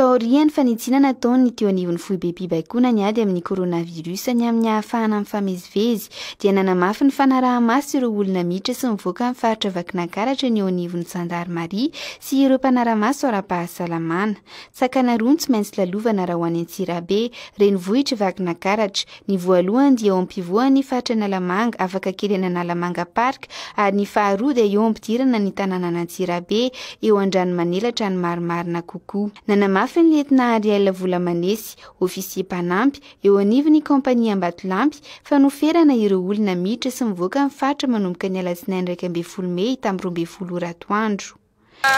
Taorian'ny fanitsiana nataon'ny teo anivon'ny foibem-pibaikoana ny ady amin'ny coronavirus ny amin'ny hahafahana mifamezivezy, dia nanamafy ny fanaraha-maso ireo olona miditra sy mivoaka amin'ny faritra Vakinankaratra ny eo anivon'ny zandarimaria sy ireo mpanara-maso ara-pahasalamana. Sakana roa no tsy maintsy lalovana raha ho any Antsirabe, renivohitr'i Vakinankaratra, Ny voalohany dia eo ampivoan'ny faritra Analamanga, afaka kely an'Analamanga Park, ary ny faharoa dia eo ampidirana ny tanànan'Antsirabe, eo Andranomanelatra ny marimarina kokoa. Nanamafy ny lietnà Ariel Volamanesy, ofisier mpanampy, eo anivon'ny kaompania Ambatolampy, fa noferana ireo olona miditra sy mivoaka ny faritra manomboka ny alatsinainy iraika ambin'ny folo mey tamin'ny roa ambin'ny folo ora atoandro. Ka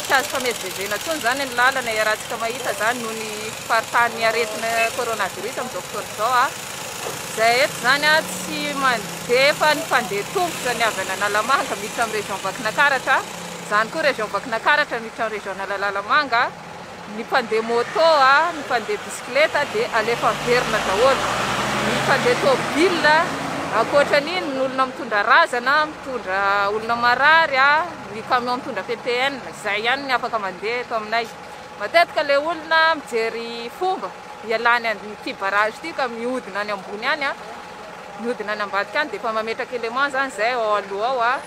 tsy azo famezivezena intsony izany ny lalana e, iarahantsika mahita izany noho ny faritany aretina coronavirus amin'izao fotoana izao a. Izahay eto izany a tsy mandefa ny mpandeha tongotra ny avy any Analamanga miditra amin'ny région Vakinankaratra, izany koa région Vakinankaratra miditra amin'ny région Analalalamanga. Ny mpandeha môtô, ny mpandeha bisikileta dia alefa averina daholo. Ny mpandeha tôbila, ankoatra an'iny ny olona mitondra razana, mitondra olona marary, ny camion mitondra ppn, izay ihany no afaka mandeha eto aminay. Matetika ilay olona mijery fomba hialany an'ity barrage ity ka mihodina any ambony any, mihodina any ambadika any dia efa mametraka élément izany izay ao aloha ao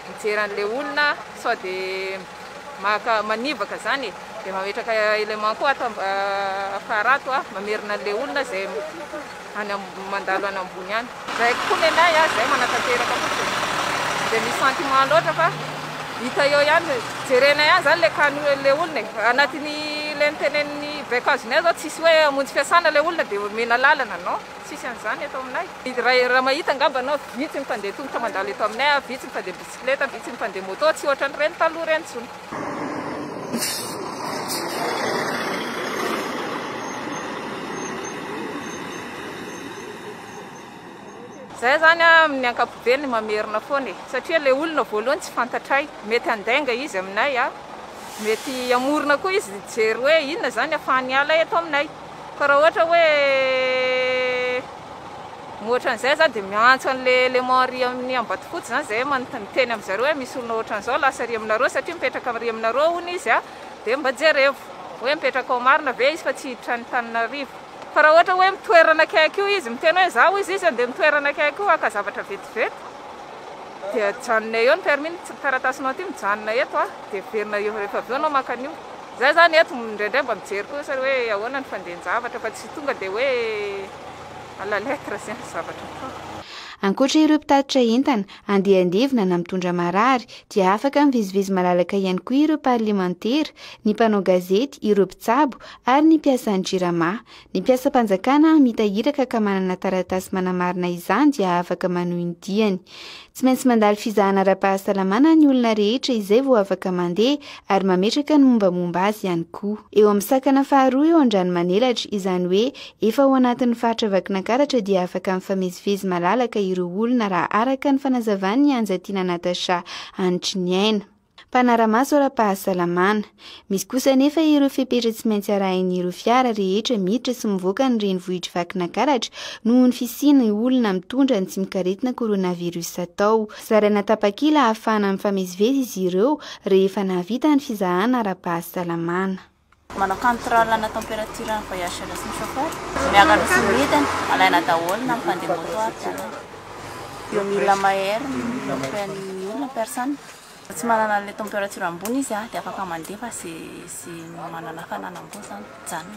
mijery an'ilay olona sao dia. Maka manivaka zany e! Dia mametraka élément koa ato afara ato a! Mamerina an'ilay olona izay any mandalo any ambony any. Zay koa ny anay a! Zay manatanteraka fotsiny e! Tsy dia misy sentiment loatra fa hita eo ihany, jerenay ihany zany ilay cas-ny ilay olona e! Anatin'ny ilay nitenenin'ny baiko azonay zao tsisy hoe hamonjy fiasana ilay olona dia omena lalana, non! Tsisy an'izany eto aminay. Raha mahita angamba anao vitsy ny mpandeha tongotra mandalo eto aminay a! Vitsy ny mpandeha bisikleta. Bisikileta vitsy ny mpandeha moto, tsy ohatran'ireny taloha ireny intsony. Izay izany amin'ny ankapobeny mamerina foana e! Satria ilay olona voalohany tsy fantatray, mety handainga izy aminay, mety hamorona koa izy hijery hoe inona izany ahafahan'ny ala eto aminay. Fa raha ohatra hoe. Ohatran'izay za dia miantso an'ilay élément ary amin'ny Ambatofotsy izany izay hoe miteny amin'i zareo hoe misy olona ohatran'izao lasa ary aminareo satria mipetraka ary aminareo hono izy a, dia mba jerevo hoe mipetraka ao marina ve izy fa tsy hiditra any Tananarivo fa raha ohatra hoe mitoerana akaiky io izy miteny hoe za hoy izy izy andeha mitoerana akaiky io haka zavatra vetivety dia janonay eo ny permis ny taratasinao ity mijanona eto a, dia heverina eo rehefa avy eo anao maka an'io, za zany eto indraindray mba mijery kosa hoe ahoana ny fandehan-javatra fa tsy. Tonga dia hoe à la lettre izay ny zavatra atao. Ankoatra ireo mpitatitra entana, andiandevo na na mitondra marary, dia afaka mivezivezy malalaka ihany koa ireo parlemantera, ny mpanao gazety, ireo mpitsabo ary ny mpiasan'ny Jirama. Ny mpiasam-panjakana hamita iraka ka manana taratasy manamarina izany dia afaka manohy ny diany. Tsy maintsy mandalo fizahana ara-pahasalamana ny olona rehetra izay vao afaka mandeha ary mametraka ny mombamomba azy ihany koa. Eo amin'ny sakana faharoa eo Andranomanelatra, izany hoe efa ao anatin'ny faritra Vakinankaratra dia afaka mifamezivezy malalaka ireo olona raha araka ny fanazavan'i Anjatiana Natacha Hanitry ny aina. Mpanara-maso ara-pahasalamana. Misy kosa anefa ireo fepetra tsy maintsy arahin'ireo fiara rehetra miditra sy mivoaka ny renivohitr'i Vakinakaratra noho ny fisian'ny olona mitondra ny tsimok'aretina coronavirus atao. Zaraina tapakila ahafahana mifamezivezy izy ireo rehefa nahavita ny fizahana ara-pahasalamana. Manao control ana temperature ny voyageurs sy ny chauffeur, miakatra sy midina alaina daholo na mipandeha moto aza na eo mila mahery mifehy ny olona personne, raha tsy manana anle temperature ambony izy dia afaka mandeha fa ze ze manana hafanana ambony zany mijanona.